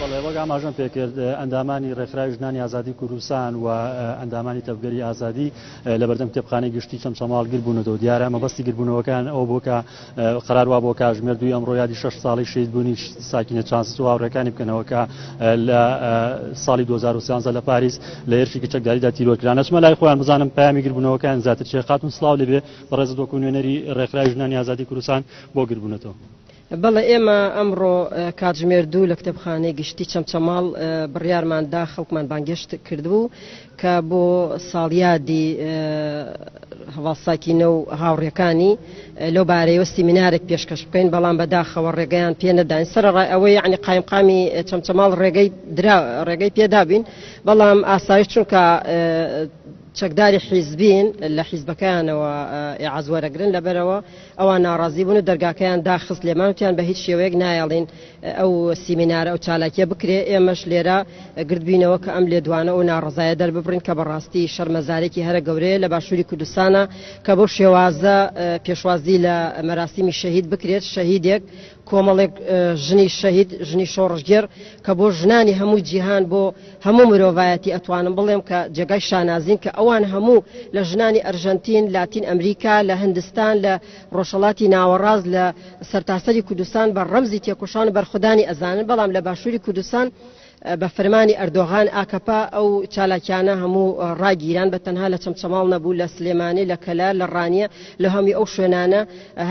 بەڵێ وەک ئاماژەم پێکرد ئەندامانی ڕێکخراوی ژنانی ئازادی کوردستان و ئەندامانی تەبگەری ئازادی لە بەردەم کتێبخانەی گشتی چەمچەماڵ گربوونەوە دیارە مەبەستی گربوونەوەکان ئەو بۆ کە قرار وا بۆ کاژمێر دوی ئەمڕۆ یادی شش ساڵی شید بوونی ساکینە چانسو هاوڕێکانی بکەنەوە کە لە ساڵی 2013 لە پاریس لە هێرشی کچەکداریدا تیرۆرکران ئەچمە لای خۆیان بزانم پامی گربوونەوەکان زیاتر چێ خاتون سلااو لەبێ بەڕێزت وەکو نوێنەری ڕێکخراوی ژنانی ئازادی کوردستان بۆ گربوونەتەوە بەڵێ ئێمە ئەمڕۆ کاتژمێر دوو لە کتێبخانەی گشتی چەمچەماڵ بڕیارمان دا خەڵکمان بانگێشت کردبوو کە بۆ ساڵیادی هەواڵساکینە و هاوڕێکانی لەو بارەیەوە سیمینارێک پێشکەش بکەین بەڵام بەداخەوە ڕێگەیان پێ نەداین سەرڕای ئەوەی یعنی قایمقامی چەمچەماڵ ڕێگەی درا ڕێگەی پێدابین بەڵام ئاسایش چونکە چەکداری حیزبین لە حیزبەکانەوە ئێعاز وەرەگرن لەبەرەوە ئەوان ناڕازی بوون و دەرگاکەیان داخست لێمان وتیان بە هیچ شێوەیەک نایەڵین ئەو سیمینارە ئەو چالاکیە بکرێ ئێمەش لێرە گردبینەوە کە ئەم لێدوانە و ناڕەزایە دەرببڕین کە بەڕاستی شەرمەزارێکی هەرە گەورەیە لە باشووری کوردستانە کە بەو شێوازە پێشوازی لە مەراسیمی شەهید بکرێت شەهیدێک کۆمەڵێک ژنی شەهید ژنی شۆڕشگێڕ کە بۆ ژنانی هەموو جیهان بۆ هەموو مرۆڤایەتی ئەتوانم بڵێم کە جێگای شانازین کە ئەوان هەموو لە ژنانی ئەرژەنتین لاتین ئەمریکا لە هندستان لە ڕۆژهەڵاتی ناوەڕاست لە سەرتاسەری کوردستان بە ڕەمزی تێکۆشان و بەرخودانی ئەزانن بەڵام لە باشووری کوردستان بە فەرمانی ئەردۆغان، ئاکەپە، ئەو چالاکیانە هەموو ڕاگیران، بە تەنها لە چەمچەماڵ نەبوو، لە سلێمانی، لە کەلار، لە ڕانیە، لە هەموی ئەو شوێنانە،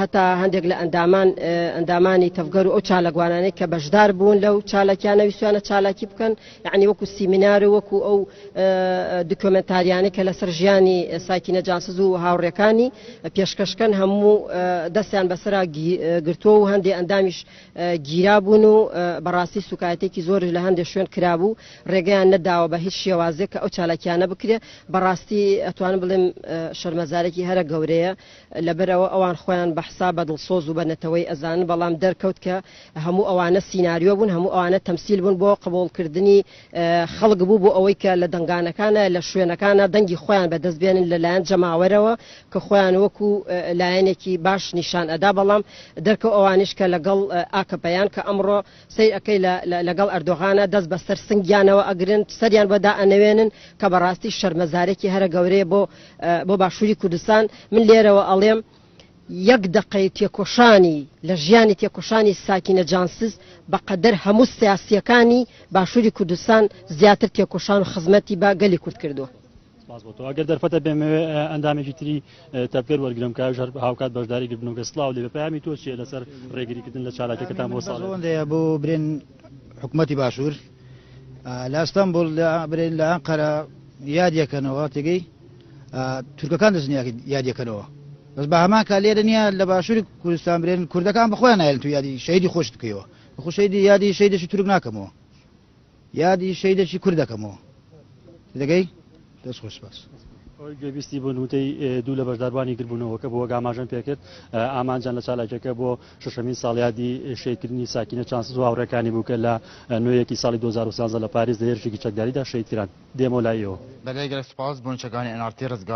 هەتا هەندێک لە ئەندامان ئەندامانی تەڤگەر و ئەو چالاکوانانەی کە بەشدار بوون لەو چالاکیانە ویستویانە چالاکی بکەن، یەعنی وەکو سیمینار و وەکو ئەو دکۆمێنتاریانەی کە لەسەر ژیانی ساکینە جانسز و هاوڕێکانی پێشکەش کەن، هەموو دەستیان بەسەرا گرتووە و هەندێ ئەندامیش گیرابوون و بەڕاستی سوکایەتێکی زۆرش لە هەندێک شوێن کرابوو ڕێگەیان نەداوە بە هیچ شێوازێک کە ئەو چالاکیانە بکرێ بەڕاستی ئەتوانم بڵێم شەرمەزارێکی هەرە گەورەیە لەبەرەوە ئەوان خۆیان بەحسا بە دڵسۆز و بە نەتەوەی ئەزان بەڵام دەرکەوت کە هەموو ئەوانە سینناریۆ بوون هەموو ئەوانە تەمسیل بوون بۆ قبولکردنی خەڵک بوو بۆ ئەوەی کە لە دەنگانەکانە لە شوێنەکانە دەنگی خۆیان بەدەست بێنن لە لایەن جەماوەرەوە کە خۆیان وەکو لایەنێکی باش نیشان ئەدا بەڵام دەرکەو ئەوانیش کە لەگەڵ ئاکەپەیان کە ئەمڕۆ سەیر ئەکەی لەگەڵ ئەردۆغانە دەست بەسەر سنگیانەوە ئەگرن سەریان بەدا ئەنەوێنن کە بەڕاستی شەرمەزارێکی هەرە گەورەیە بۆ بۆ باشووری کوردستان من لێرەوە ئەڵێم یەک دەقەی تێکۆشانی لە ژیانی تێکۆشانی ساکینە جانسز بە قەدەر هەموو سیاسییەکانی باشووری کوردستان زیاتر تێکۆشان و خزمەتی بە گەلی کورد کردووە. سپاس بۆ تۆ. گەر دەرفەتە بێمەوێ ئەندامێکی تری تەڤگەر وەرگرم کە ئەویش هەر هاوکات بەشداری گرت بنوگە سلاو لێبێ پەیامی تۆ چیە لەسەر ڕێگری کردن لە چالاکیەکەتان بۆ ساڵ ئەوەندەیە بۆ برێن حکومەتی باشوور لە ئەستەمبول لە برێن لە ئەنقەرە یادیەکەنەوە تێگەی تورکەکان دەستن یادەکەنەوە بەس بە هەمان کا لێرە نییە لە باشووری کوردستان برێن کوردەکان بخۆیان نایلن تو یادی شەیدی خۆش بکەوە خوشەیدی یادی شەیدەشی تورک ناکەمەوە یادی شەیدەشی کوردەکەمەوە دەگەی دەست خۆش باس. ئەوەی گوێبیستی بوون وتەی دوو لە بەشداربانی گربوونەوەکە بۆ گاماژەن پێکرد ئامانجان لە چالاکیەکە بۆ شەشەمین ساڵیادی شەهیدکردنی ساکینە چانسز و هاوڕێکانی بوو کە لە نۆ یەکی ساڵی دوو هەزار و سیانزە لە پاریس لە هێرشێکی چەکداریدا شەهیدکران. دێمە لای ئێوە. بەبێ گەل سوپاس بۆ نیشتەکانی ئەنارتی ڕزگار.